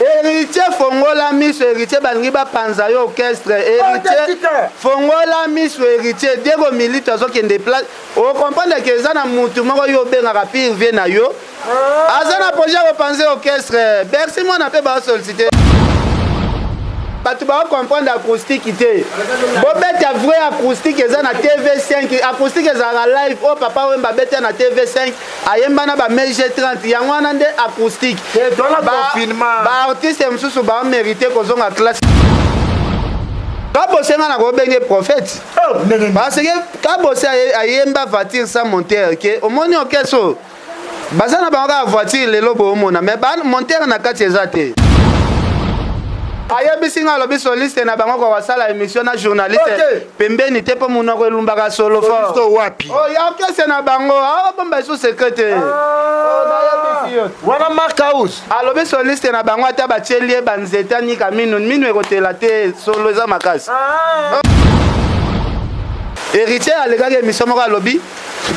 Héritier fongola miso héritier balingi bapanza yo orchestre héritier fongola miso héritier Diego Milito azokende place okomprendre ke eza na mutu moko yo obengaka pire vie na yo ah. aza na projet ya kopanze orchestre bercy mwana mpe baosolicite bato baocomprendre acoustique te bobeta vrai acoustique eza na tv5 acoustique ezalaka live oyo oh, papa wemba abeta na tv5 ayemba na ba mege 30 yango wana nde acoustique baartiste mosusu bamérite kozonga classe kabose nga nakobenge prophète oh, parce que kabose ayemba voiture sans monteur ke omoni okeso baza na bango kaka voiture lelo boomona mais monteur na kati eza te ayebisi nga alobi soliste na bango kokosala émission na journaliste pembeni te mpo monoko elumbaka solo fort wapi oh, ya orchestre na bango abomba ah, esu secret te ah. wana mark house alobi soliste na bango ata batieli ye banzete anika minu minu ekotela te solo eza makasi ah. héritier alekaki emission moko alobi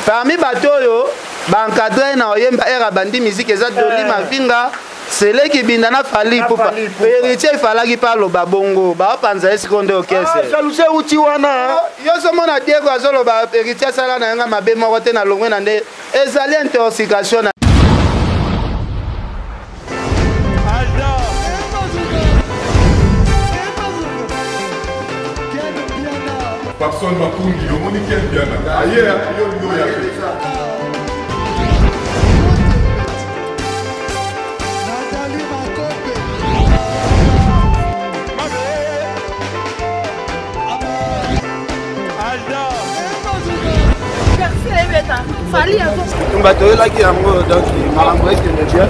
parmi bato oyo baencadre na oyemba ere abandi miziki eza doli eh. mavinga sele kibinda na fali ipupa heritier ifalaki mpe aloba bongo baopanza ye sikoyo nde okesejaluse ah, uti wana yo somona diego azoloba heritier asala na yanga mabe moko te na longwe na nde ezali intoxication na Papson Makundi, omoni kel biana aye yo yo ya bato oyelaki yango donc makambo ekende bien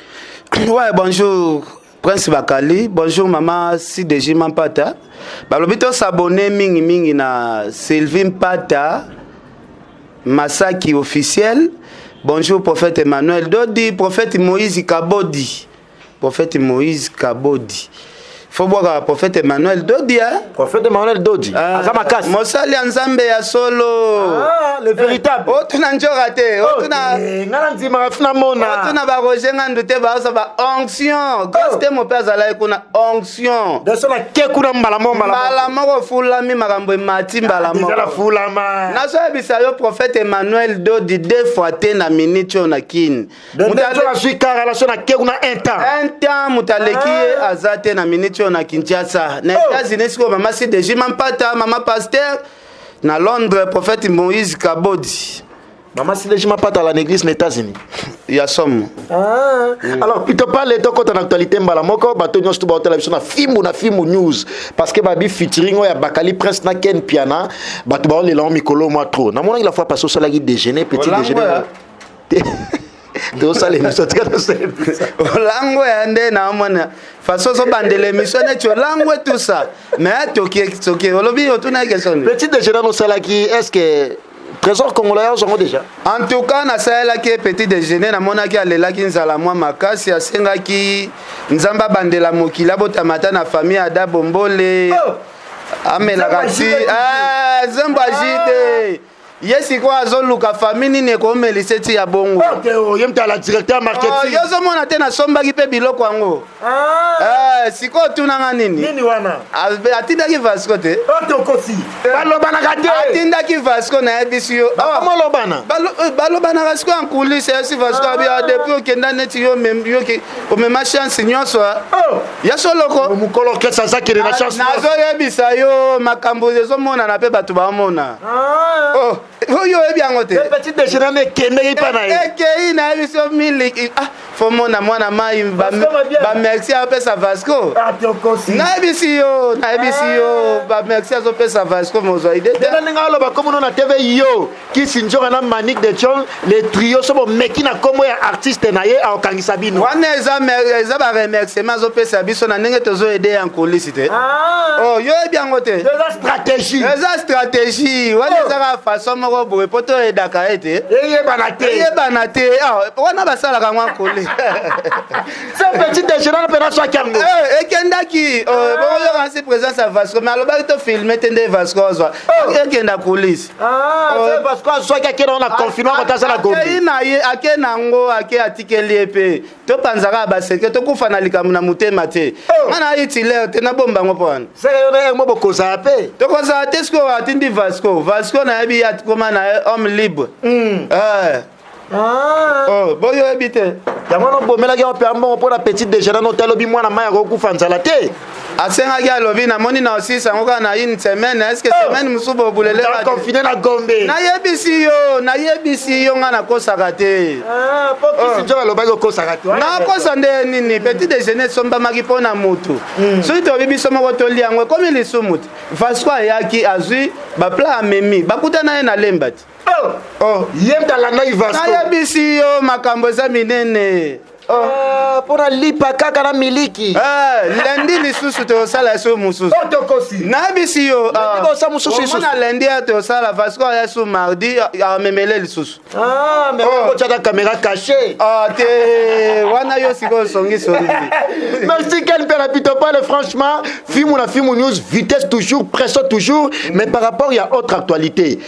Ouais, bonjour. Prince Bakali, bonjour maman CDG Mampata. Balobi to s'abonner mingi mingi na Sylvie Mpata Masaki officiel. Bonjour prophète Emmanuel Dodi, prophète Moïse Kabodi. Prophète Moïse Kabodi. fo bwaka prophète emmanuel dodi eh? prophète emmanuel dodi ah, aza makasi mosali ya nzambe ya solo ah, le véritable eh, otuna njoka te oh, otuna eh, nga na ndimaka tuna mona otuna ba roger ngandu te baosa ba onction gostemo oh. mpe azalaki kuna onction daso na ke kuna mbala moko mbala moko ofulami makambo emati ah, mbala moko nazoyebisa yo prophète emmanuel dodi deux fois te na minute oyo na kini mutu azwi ka relation na ke kuna un temps un temps mutu aleki ye ah. aza te na minute oyo na kinshasa na oh. états-unis sikoyo mama sideji mampata mama pasteur na londres prophète moïse kabodi mama sideji mampata la néglise na états-unis ya somo ah. mm. alors plutôt pale tokota na actualité mbala moko bato nyonso to baotala biso na fimbu na fimbu news parce que babi featuring oyo ya bakali prince na ken piana bato baolela yango mikolo mwa trop namonaki la fois passe osalaki déjeuner petit déjeuner tosala emission tika tosala emission olango ya nde naomona façon ozobandela emission neti olango etusa mais toki soki olobi otuna question petit déjeuner osalaki est ce que trésor congolais ozo yango déjà en tout cas nasalelaki ye petit déjeuner namonaki alelaki nzala mwa makasi asengaki nzambe abandela mokili abotama ata na famille ada bombole oh! amelaka ti eh, zembo aji te ye sikoyo azoluka famille nini ekomelisa eti ya bongo oh, ye mtala directeur marketing oh, yo ozomona te nasombaki mpe biloko yango ah. eh, sikoyo otunanga nini nini wana atindaki vasco te otokosi oh, eh. balobanaka te atindaki vasco nayebisi yo bakomolobana eh, balobanaka sikoyo ankulise yasi vasco abi ah. depuis okenda neti yo omema chance nyonso ya soloko mokolo kesa azakende na ah, chance nazoyebisa yo makambo ezomonana mpe bato bamona oyo oyebi yango te petit déjeuner na ekendeki mpa na ye ekei na ye biso miliki ah fo mona mwana mai bamerci apesa vasco ah, nayebisi yo nayebisi yo ah. bamerci azopesa vasco mozwa ide te nalinga aloba komono na tv yo kisi nzoka na manique de chon le trio so bomeki na nkombo ya artiste na ye akokangisa bino wana eza baremerciement azopesa biso na ndenge tozoede ya nkolisi te ah. oh, yo yebi yango te eza stratégie eza stratégie wana oh. ezaka façon moko boye mpo toyedaka ye te eyebana te eyebana te ah, wana basalaka yango akole se petit déjeuner mpe naswaki yango eh, ekendaki oh, ah. bokoyoka nsi présence ya vasco mais alobaki to filme te nde vasco azwa oh. ekenda coulisse vasco azwaki akenda wana confinement kota asala gombe akei na ye ake na yango ake atikeli ye mpe topanza kaka baseke tokufa na likambo na motema te oh. nga na hitler te nabomba yango mpo wana seke yo na yango bokozala mpe tokozala te sikoyo atindi vasco vasco nayebi atikoma na ye homme libre hmm. eh. ah. oh, boyoyebi te yango wana obomelaki yango mpe ambongo mpo na petit dejeuner no talobi mwana mai akokufa nzala te asengaki alobi namoni na osisa yango kaka na une semaine eske oh! semaine mosusu bobuleleconfine na gombe nayebisi yo nayebisi yo ngai nakosaka te ah, oh. alobaki okosaka te nakosa nde nini petit déjeuner esombamaki mpo na motu hmm. soki tobi biso moko tolia yango ekomi lisumu te vasco ayaki azwi bapla amemi bakutana ye na lemba te oh! ye mpe alandaki vasco nayebisi yo makambo eza minene Ah, mpo na lipa kaka na miliki Ah, lendi lisusu tosala su mosusu Oh, tokosi nayebisi yo Lendi bosa mosusu lisusu. omona lendi ya tosala vasco aya su mardi ah, amemele lisusu Ah, mais Oh. okotyaka kamera cache Ah, te wana yo sikoyo songisongi Merci Ken Pela Pitopale, franchement, film ou la film news, vitesse toujours, pression toujours, mais par rapport il y a autre actualité.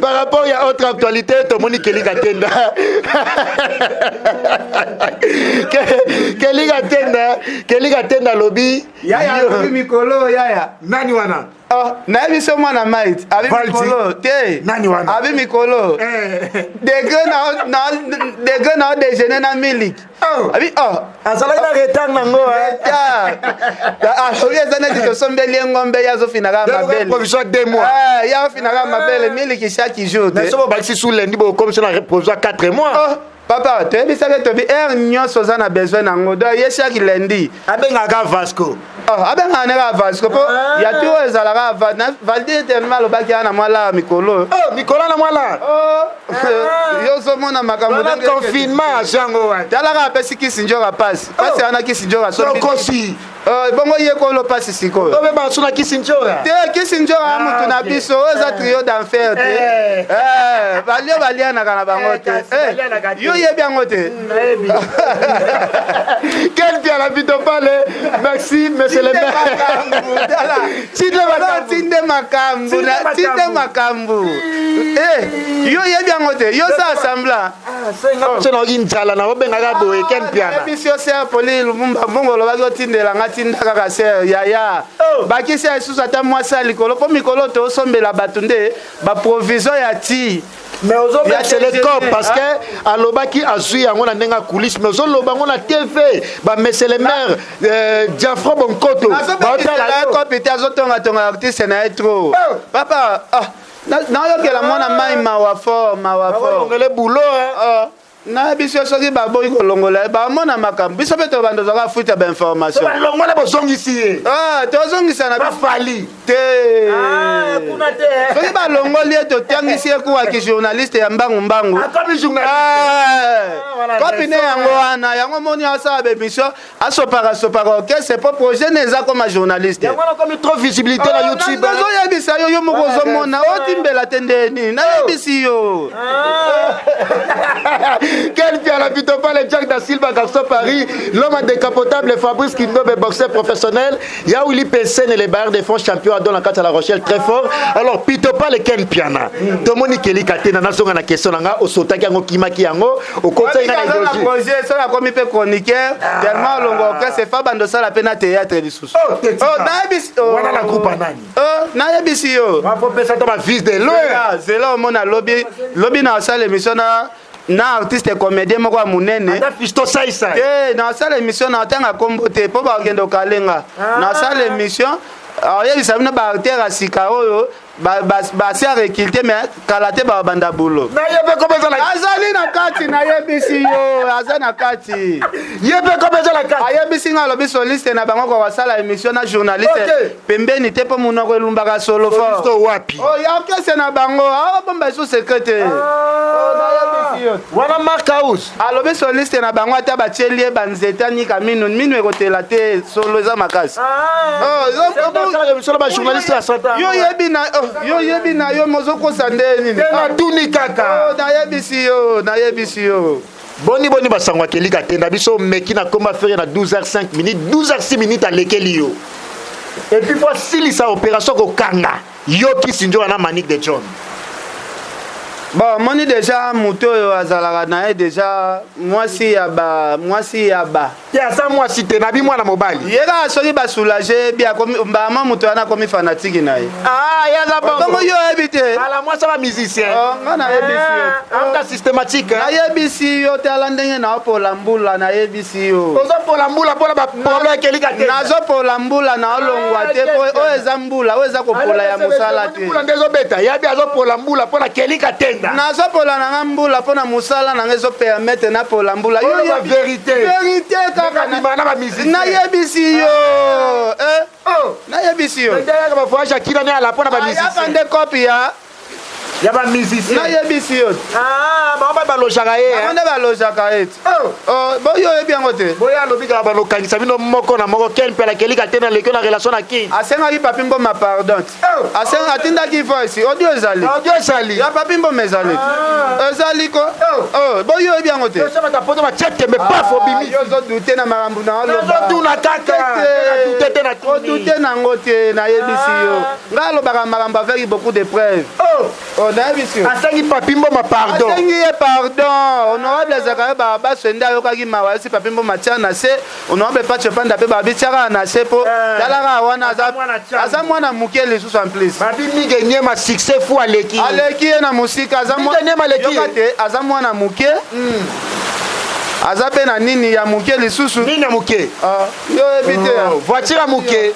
Par rapport ya autre actualité, tomoni Kelly Katenda. Kelly Katenda, Kelly Katenda lobi. Yaya lobi mikolo yaya. Nani wana? Oh, nayebi so mwana mait abi mikolo te nani wana abi mikolo eh. degre na degre na o déjeuner na miliki Oh. abi oh. azalaki na retard nango eh. ah, oyo eza neti tosombeli ye ngombe ye azofinaka mabeleprovision de mois eh, ye afinaka mabele miliki chaque jour te soki obakisi su lendi bokomisi na provision 4 mois oh. papa toyebisaki tobi heure nyonso oza na besoin nango do ye chaque lundi abengaka vasco Oh, abengaka nde kaka vasco mpo ah. ya turo ezalaka valdi eternema alobaki ana mwala mikolo oyo oh, mikolo na mwala oh, ah. yo ozomona makambo confinement ya jango wana talaka apesi kisi njoka pasi pasi wana kisi njoka sokosi bongo ye kolo pasi sikoyo obe basu na kisi njoka te kisi njoka ah, motu na biso oyo eza eh. trio d'enfer te eh. Eh, balio balianaka na bango te yo yebi yango te Quel bien la vie de palais Merci, monsieur le maire. Tinde makambu. Tinde makambu. Tinde makambu. Eh, yo yebi yango te. Yo sa assembla. Tshena ah, oki njala na obengaka boye ken piana. Bisi yo se poli lumumba mbongo lobaki otindela nga tinda kaka se yaya. Oh. Bakisi ya lisusu ata mwasi ya likolo po mikolo tosombela bato nde baprovision ya ti ya telecom parce que alobaki azwi yango na ndenge ya coulisse mais ozoloba yango na tv bamesele mare euh, diafro bonkoto baotalakopi te azotongatonga artiste na ye trop oh. papa ah, nayokela mwana mai mawa fort mawa fortongele boulot na biso soki baboyi kolongola ye bamona makambo biso mpe tobanda ozaka fuite ya bainformation balongola bozongisi ye ah, tozongisa na bafali te ah, eh. soki balongoli ye totangisi ye kuwa kijournaliste ya mbangu mbangu ah, eh. kopi ne yango wana yango moni asala bemission asopaka sopaka orchestre po projet ne eza koma journaliste yango wana komi trop visibilité na ah, youtube nazoyebisa yo yo moko ozomona otimbela te nde nini oh. nayebisi yo ah. quel piala pitopale jack da silva garçon paris l'homme décapotable fabrice kindobe boxeur professionnel Il y a Willy Pessin et les Bayern de France champion à Dona Kata La Rochelle très fort. Alors pito pas le Ken Piana. Tout le monde est Kelly Katena na songa na question nga o sota ki ango kima ki ango o kota ina na doji. Projet ça la komi pe chroniqueur ah. tellement longo que c'est fa bando sala pe na théâtre du sous. Oh, oh na bis. Oh. Wana la groupe nani? Oh na bis yo. Ma faut pesa to ba vis de l'eau. C'est là au monde lobby lobby na sala émission na na artiste comédien moko ya monene te nasala émission na otanga nkombo te mpo bakokende okalenga ah. nasala émission oyebisa bino baartere ya sika oyo basi arekilte me kala te babanda bulo azali na kati nayebisi yo aza na kati ayebisi nga alobi soliste na bango kokosala émission na journaliste pembeni te mpo monoko elumbaka solo fort wapi oh, ya kese na bango abomba ah, esu secret te ah. wana mark house alobi soliste na bango ata batieli ye banzete anika minu minu ekotela te solo eza makasi ah. oh, yo oyebi na yo mozokosa nde nini natuni kaka nayebisi yo nayebisi yo boni boni basango ya kelika te na biso meki na komba fere na 12h5 minute 12h6 minute alekeli yo epuis fo asilisa opération kokanga yo kisi nzoka na manique de john bon moni deja moto oyo azalaka na ye deja mwasi ya ba mwasi ya ba ye aza mwasi te nabi mwana mobali ye kaka soki basoulage bi mbama moto wana akomi fanatiki na ye ah, ye aza bongo yo oyebi te ala mwasi aba musicien oh, nga nayebisi yo ah, amta oh. systématique nayebisi yo te ala ndenge naopola mbula nayebisi yo ozopola mbula mpona bapolo ekelika te nazopola mbula naolongwa ah, te oyo eza mbula oyo eza kopola ya mosala te mbula nde ezobeta yabi azopola mbula mpona kelika tenda nazopola na nga mbula mpona mosala na nga ezopermete napola mbula yo verite kaka bima na ba musiciens nayebisi yo ah. eh oh nayebisi yo ndeyaka ba voyage akina ne ala pona ba ah, musiciens ya bande copy ya ya ba musiciens nayebisi yo ah ba ba balojaka ye ba eh. nde balojaka ye oh. oh bo yo yebi yango te bo ya lobi kala balokangisa bino moko na moko ken pela kelika te na lekio na relation na king asengaki papi mboma pardon asenga atindaki voice audio ezali audio ezali ya papi mboma ezali ah. ezali ko oh. Oh, boyi oyebi yango te osabata poto bachete me paf ah, obimi yo ozodute na makambo na olobazoduna kakaodute ah. nango te nayebisi yo ngai alobaka makambo avec beaucoup de preuve oh. nayebisi yo asengi papi mboma pardon asengi ye pardon honorable azalaka yo babaso ende ayokaki mawa esi papi mboma tia na se onoabe pace panda mpe babitiaka na se mpo eh, talaka wana aza mwana moke lisusu en plus babimige nyema succès fu aleki aleki ye na mosika azayoka te aza mwana moke hmm. aza mpe na nini ya moke lisusu nini ya moke ah, yo oyebi te oh, voiture ya moke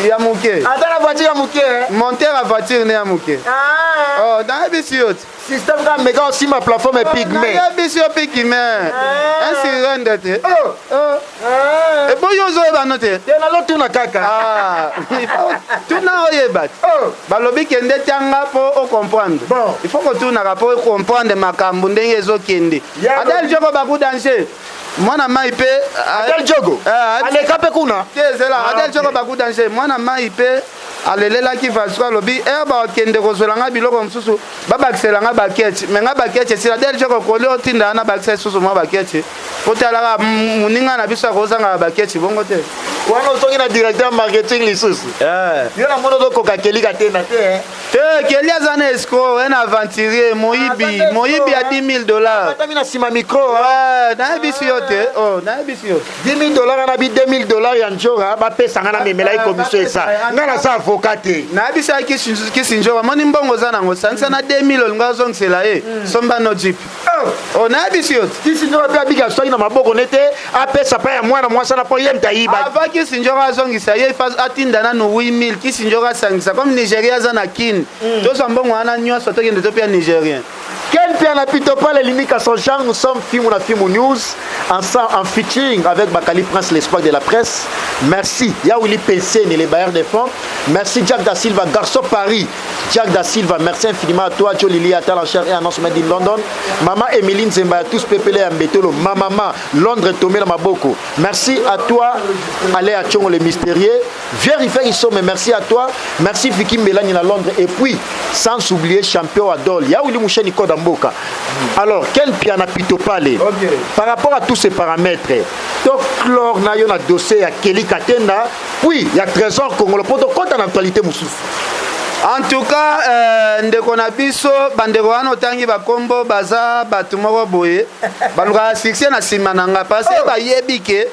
ya moke ata na voiture ya moke eh? monteur ya voiture ne ya moke ah. oh, nayebisi yo te Système kaka meka osimba plateforme pygmée. Ya biso ya pygmée. Ainsi rende te. Oh, oh. Eh. Eboyi ozoyeba no te. Te nazotuna kaka. Ah. Tuna oyeba. Oh. Balobi kende tianga po o comprendre. Bon. Il faut kotunaka po comprendre makambo ndenge ezokende. Adel Joko Baku Danger. mwana mai mpe ah, adel jogo eh, aleka mpe kuna te ezela ah, adel jogo baku danger mwana mai mpe alelelaki vasco alobi e eh, bakende kozwela ngai biloko mosusu babakisela ngai baketi me ngai baketi esila delge kokoli otinda na bakisa lisusu mwa baketi kotalaka moninga na biso akozangaka baketi bongo te wana ozongi na directeur marketing lisusu eh. yo na moni ozokoka kelika te na te eh. te keli aza na escro un aventurier moyibi ah, moyibi ya 10 000 dollars atami na nsima micro nayebisi yo te oh, nayebisi yo te 10.000 dollars na bi 2000 dollars ya njora bapesa nga namemela ye commission esa nga naza avocat te nayebisaki kisi njora moni mbongo oza nango sangisa na 2000 olinga ozongisela ye hmm. somba no jip oh. oh, nayebisi yo kisi njora mpe abika soki na maboko ne te apesa mpa ya mwana mwasi wana mpo ye mta yiba ava kisi njora azongisa ye atinda nanu 8000 kisi njora asangisa comme nigeria aza na kin hmm. tozwa mbongo wana nyonso tokende topia nigerien Ken Mpiana Pitopale Limika son genre nous sommes Fimou na Fimou News ensemble en featuring avec Bakali Prince l'espoir de la presse merci ya Willy Penseni les bailleurs de fonds merci Jack da Silva garçon Paris Jack da Silva merci infiniment à toi Jolie Lia Talancher et Annonce Made in London Maman Emeline Zemba tous pepele ya Mbetolo ma maman Londres Tomela Maboko merci à toi Allez à Tchongo le mystérieux Vieux Rifer Isome, merci à toi. Merci Vicky Mbelani na Londres. Et puis, sans oublier champion Adol. Ya Willy Moucheni Koda Mboka. Alors, quel piana pito palais okay. Par rapport à tous ces paramètres, top chlore na yo na dossier à Kelly Katenda, puis il y a Trésor Congolo Poto, quand en actualité Moussous en tout cas euh, ndeko na biso bandeko wana otangi bakombo baza bato moko boye balukaka succès na nsima na nga parce oh. bayebi ke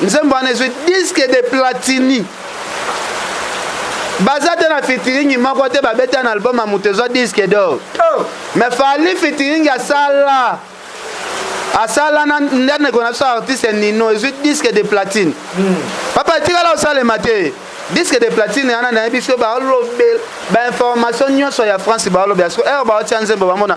nzembo wana ezwi diske de platini baza te na fitiringi moko te babeta na album ya moto ezwa diske dor oh. me fali fitiringi asala asala na ndeko na biso artiste nino ezwi diske de platine hmm. papa etikala osalema te diske de platine yana nayebi so baolobela bainformation nyonso ya france baolobela so ere baotia nzembo bamona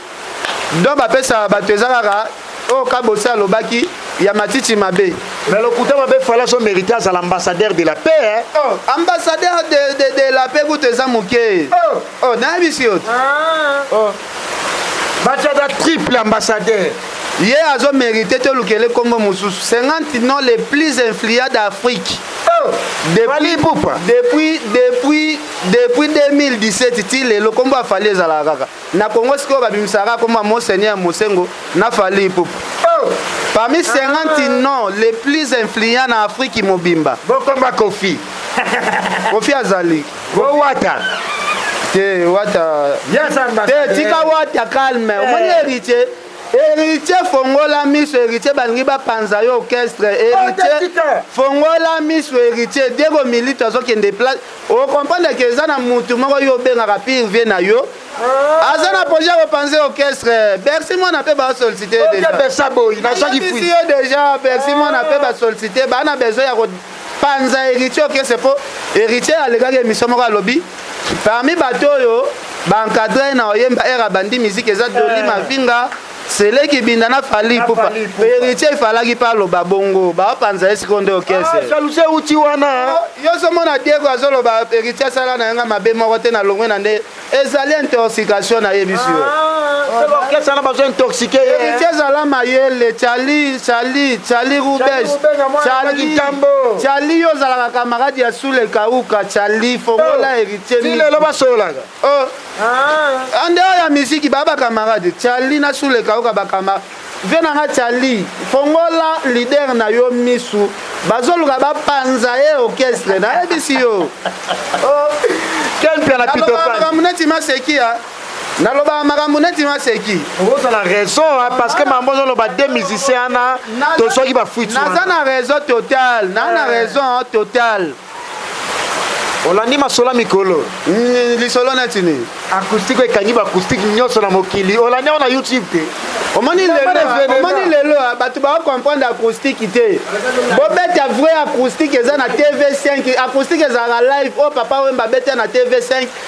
don bapesaka bato eza kaka oyo kabose alobaki ya matiti mabe mais lokuta mabe fala so mérite azala ambassadeur de la paix hein? oh, ambassadeur de, de, de la paix kutu eza moke oh. oh, nayebisi yo ah. oh. batiada triple ambassadeur ye azo mérite tolukele nkombo mosusu 50 non les plus influents d'afrique oh. depuis, depuis, depuis, depuis 2017 ti lelo nkombo afali ezalaka kaka Na Congo sikoyo babimisaka kombo ya Monseigneur Mosengo na Fally Ipupa. Oh! Parmi 50 ah. noms les plus influents na Afrique mobimba. Bokoma Kofi. Kofi azali. Bo wata. Te wata. Te tika wata calme. Eh. Omoni héritier. héritier fongola miso héritier balingi bapanza yo orchestre héritier fongola miso héritier diego milito azokende place o comprendre ke eza na mutu moko yo obengaka pire vie na yo ah. aza na projet ya kopanze orchestre bercy mwana mpe basollicite yo déjà bercy ah. mwana mpe basollicite baa na besoin ya kopanza héritier orchestre mpo héritier alekaki émission moko alobi parmi bato oyo baencadre na oyemba ere abandi miziki eza doli eh. mavinga sele kibinda na fali ipupa heritier ifalaki mpe aloba bongo baopanza ye sikoyo nde okese ah, jalousie euti wana yo somona diego azoloba heritier asala na yanga mabe moko te na longwe na nde ezali intoxication na yebisi yo orchestre wana bazo intoxike ye héritier ezala mayele cali cali cali rubes cali cali yo ozalaka kamarade ya sule kauka cali fongola héritier lelo basololaka Oh. Ah. Ande ya miziki ba ba camarade Charlie na Sule Kaoka ba camarade. Vie na nga Charlie fongola leader na yo misu bazoluka bapanza ye orchestre nayebisi yo. Oh. Quel plan na Peter Pan. Ba muneti maseki ya. nalobaka makambo neti maseki ozala raison parce que mambo ozoloba de musicien wana to soki bafuiti naza na raison total naa na raison total olandi masola mikolo mm, lisolo neti nini acoustique ekangi baacoustique nyonso na mokili olandi yango na youtube te omoni lelo ah, bato baakomprendre acoustique te bobeta vrai acoustique eza na tv 5 acoustique ezalaka live oyo oh, papa wemba abeta na tv 5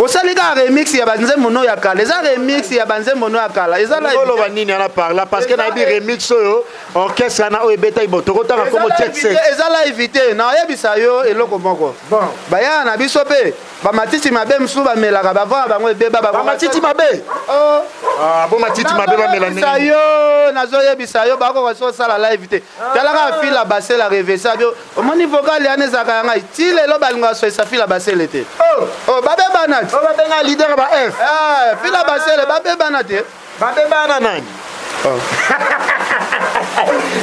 osali kaka remix ya banzembo no ya kala eza remix ya banzembo no ya kala ezalaoloba nini ana parla parce que nayebi remix oyo orchestre ana oyo ebetaki bo tokotanga nkombo eza live te nayebisa yo eloko moko bayana na biso mpe bamatiti mabe mosusu bamelaka bavana bango ebeba bamatiti mabe oh. ah, bo matiti mabe bamela yo nazoyebisa yo bakoka so osala live te talaka afila basela revesa omoni vocal yana ezalaka ya ngai ti lelo balingaka soyisa fila basele te oh. oh, babebana te oh, babenga leader ba f eh, fila basele babebana te babebana nani oh.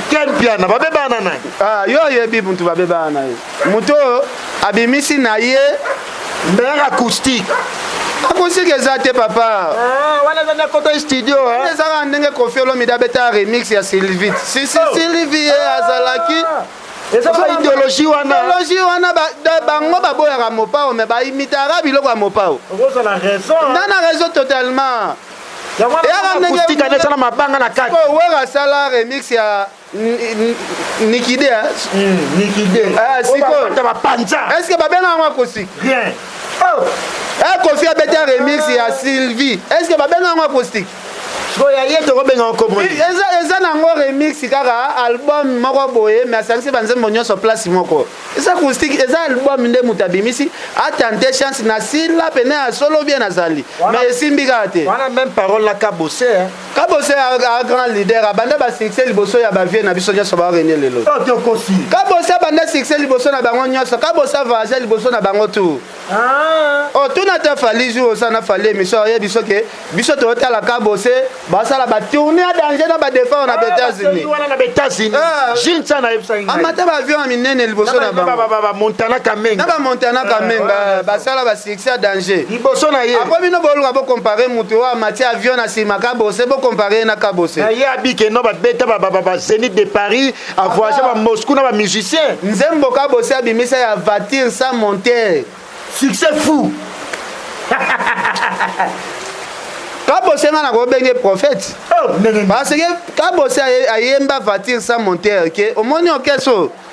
ken piana babebana nani ah, yo oyebi mutu babebana na ye moto oyo abimisi na ye Mère acoustique. Acoustique eza te papa. Ah, wana eza ndako to studio hein. Eza ka ndenge Koffi Olomide abeta remix ya Sylvie. Si si oh. Sylvie eh, azalaki. Ah. Eza ba idéologie wana. Idéologie wana ba bango baboyaka Mopao mais ba imitaka biloko ya Mopao. Okoza na raison. Hein. Nana raison totalement. Yaka ndenge. Acoustique anetana mabanga na kati. Ko wera sala remix ya nikide nikide sikoyo bapanza est ce que babena yango akosi rien oh. eh, kofi abeta remix ya sylvie est ce que babena yango acoustique soya ye tokobenga okomoi eza nango remix kaka album moko boye me asangisi banzembo nyonso place moko eza acoustique eza album nde moto abimisi atente chance na sila pene ya solo bien azali me esimbi kaka te wana meme parole na kabose kabose a grand leader abanda ba succès liboso ya ba vieux na biso nyonso ba rene lelo kabose abanda succès liboso na bango nyonso kabose avage liboso na bango tu ah. o oh, tuna te fali jour oza na fali émission oyebi biso ke biso toyotala kabose basala ba tourne ya danger na ba défense na ah, États-Unis wana na États-Unis ah. Gilles Tsana ayebisa ngai amata ba avion ya minene liboso na bango na ba Montana Kamenga na ba Montana Kamenga basala ba c'est à danger liboso na ye après bino boluka bo comparer mutu oyo amati avion na sima kabose bo comparer na kabose na ye abike no babeta ba ba ba zenith de paris a voyage ba moscou na ba musiciens nzembo kabose abimisa ya voiture sans monter succès fou kabose nga nakobenge prophète oh, parce que kabose ayemba voiture sans monter ke omoni okeso okay, so.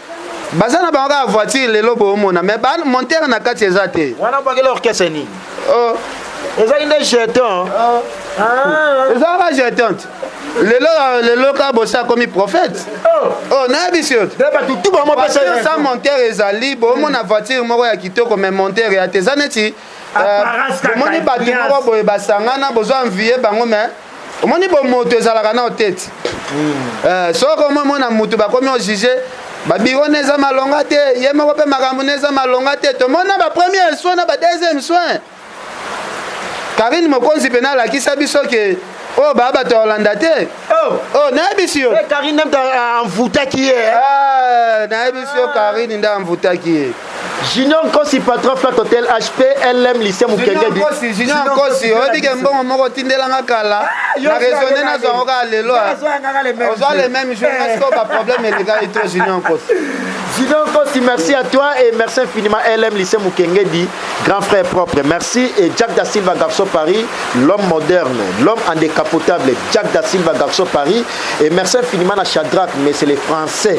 baza na bango kaka voiture lelo boomona mais ba montere na kati eza te wana bakela orchestre nini oh. ezali nde jeton oh. ah. eza kaka jeton lelo lelo ka bosi akomi prophète oh. oh nayebisi yo sa montere ezali boomona voiture moko ya kitoko mais montere ya te eza neti omoni euh, bato moko boye basangana bozwa envie bango mais omoni bomoto ezalaka nao tete hmm. eh, soki omomona motu bakomi ojuge babiro na eza malonga te ye moko mpe makambo na eza malonga te tomona bapremiere soin na badeuxième soin karine mokonzi mpe nalakisa biso ke oyo oh, baa bato ya olanda te oh. oh, nayebisi yo eh, karine nde amvutaki ye nayebisi yo karine nde amvutaki ye Junior Nkosi patron flat hotel HP LM lycée Mukenge di. Junior Nkosi oyebi ke mbongo moko tindela nga kala ah, na raisonner na zango ka lelo. Ah. Oza le même jour parce que ba problème eleka et toi Junior Nkosi. Junior Nkosi merci à toi et merci infiniment LM lycée Mukenge di grand frère propre. Merci et Jack da Silva Garçon Paris l'homme moderne, l'homme en décapotable Jack da Silva Garçon Paris et merci infiniment à Shadrach mais c'est les français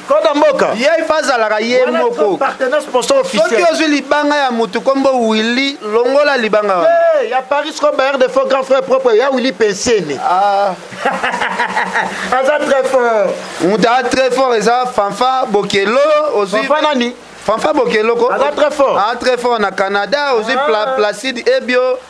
koda mboka ye ifa azalaka ye moko soki ozwi libanga ya motu kombo willi longola libanga wana hey, ya paris cobayer de faux grand frère propre ya willi pensene ah. aza très fort moto aza très fort eza fanfa bokelo ozwi nani fanfa bokeloko aza très fort aza très fort na canada ozwi ah. placide ebio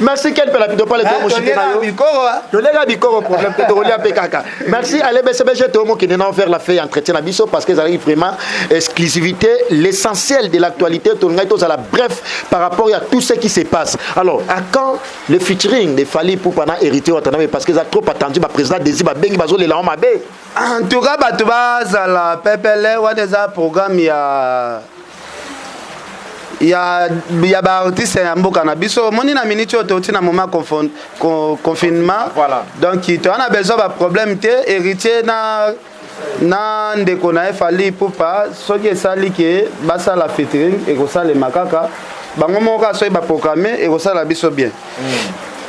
merci ken pela pido pale tomoshike na yo tolenga bikoro problème te tokolia mpe kaka merci ale bcbg tomokende na vers la fin ya entretien na biso parce que ezalaki vraiment exclusivité l'essentiel de l'actualité tolingaki tozala bref par rapport ya tout ce qui se passe alors à quand le featuring de fali pupa na héritier watanabe parce que eza trop attendu baprésident desi babengi bazolela yango mabe en tout cas bato bazala pepele wana eza programme ya ya, ya baartiste ya mboka na biso omoni na miniti oyo touti na moment confinement voilà. donc toya na besoin baproblème te héritier na na ndeko na ye fali pupa soki esali ke basala fitring ekosalema kaka bango moko kaka soki baprograme ekosala biso bien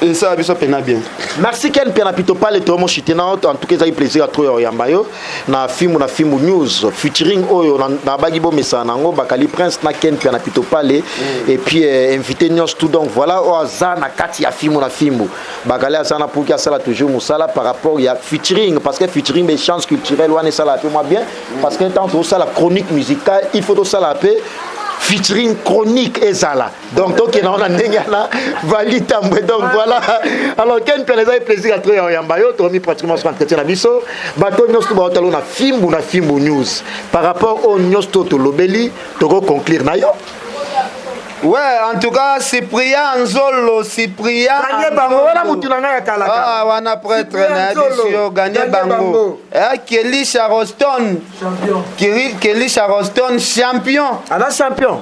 esala biso mpena bien merci ken mpiana pitopale toyomo chite na oto en tout cas ezali plaisir ya trop ya oyamba yo na fimbu na fimbu news featuring oyo nabaki bomesana na yango bakali prince na ken mpiana pitopale mm. et puis euh, invité nyonso tout donc voilà oyo aza na kati ya fimbu na fimbu bakali aza na puki asala toujours mosala par rapport ya featuring parce que featuring be chance culturelle wana esalaka mpe mwa bien mm. parce que ntango tozosala chronique musicale il faut tosala mpe featuring chronique ezala donc tokenda wana ndenge yana vali tambwe donc voilà alors ken mpela ezali plaisir ya tro ya oyamba yo tokomi pratiquement sur entretien na biso bato nyonso to baotalo na fimbu na fimbu news par rapport oyo nyonso to tolobeli tokoconclure na yo Ouais, en tout cas, Cyprien Nzolo, Cyprien. Gagné bango, wana mutu na ngai ya kala kala. Ah, wana prêtre na bisio, gagné bango. Eh, Kelly Charleston. Champion. Kelly Charleston, champion. Ana champion.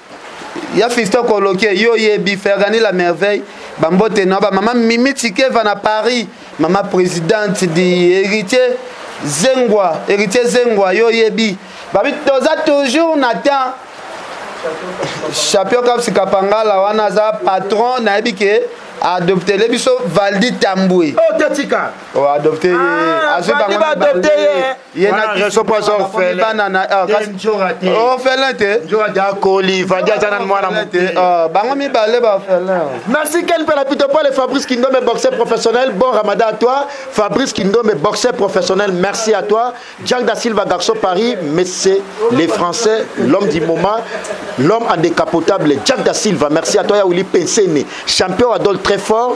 ya fiston koloke yo oyebi fergani la merveille bambote na bamama mimi tikeva na paris mama présidente di héritier zengwa héritier zengwa yo oyebi babi toza toujours na temps champion kapsi kapangala wana aza patron nayebi ke adoptele biso valdi tambwe oh, adopte ye ah, azwi bango ye na biso mpo aza orphelin orphelin te akoli vandi aza na mwana moke ah, bango mibale ba orphelin merci ken mpe na pito pole fabrice kindombe boxeur professionnel bon ramadan à toi fabrice kindombe boxeur professionnel merci à toi jack da silva garçon paris mais c'est les français l'homme du moment l'homme en décapotable jack da silva merci à toi ya wili pensene champion adol très fort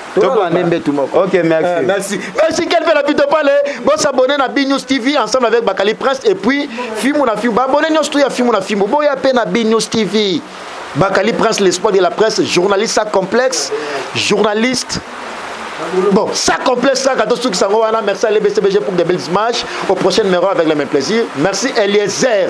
tolande mbetu moko ok merci euh, merci merci quel fait la pito pale bo s'abonner na B News TV ensemble avec Bakali Prince et puis Fimou na Fimou ba abonner nyo surtout ya Fimou na Fimou bo ya pe na B News TV Bakali Prince l'espoir de la presse journaliste à complexe journaliste Bon, ça complète ça, quand tout ça, merci à l'EBCBG pour des belles images. Au prochain numéro avec le même plaisir. Merci Eliezer.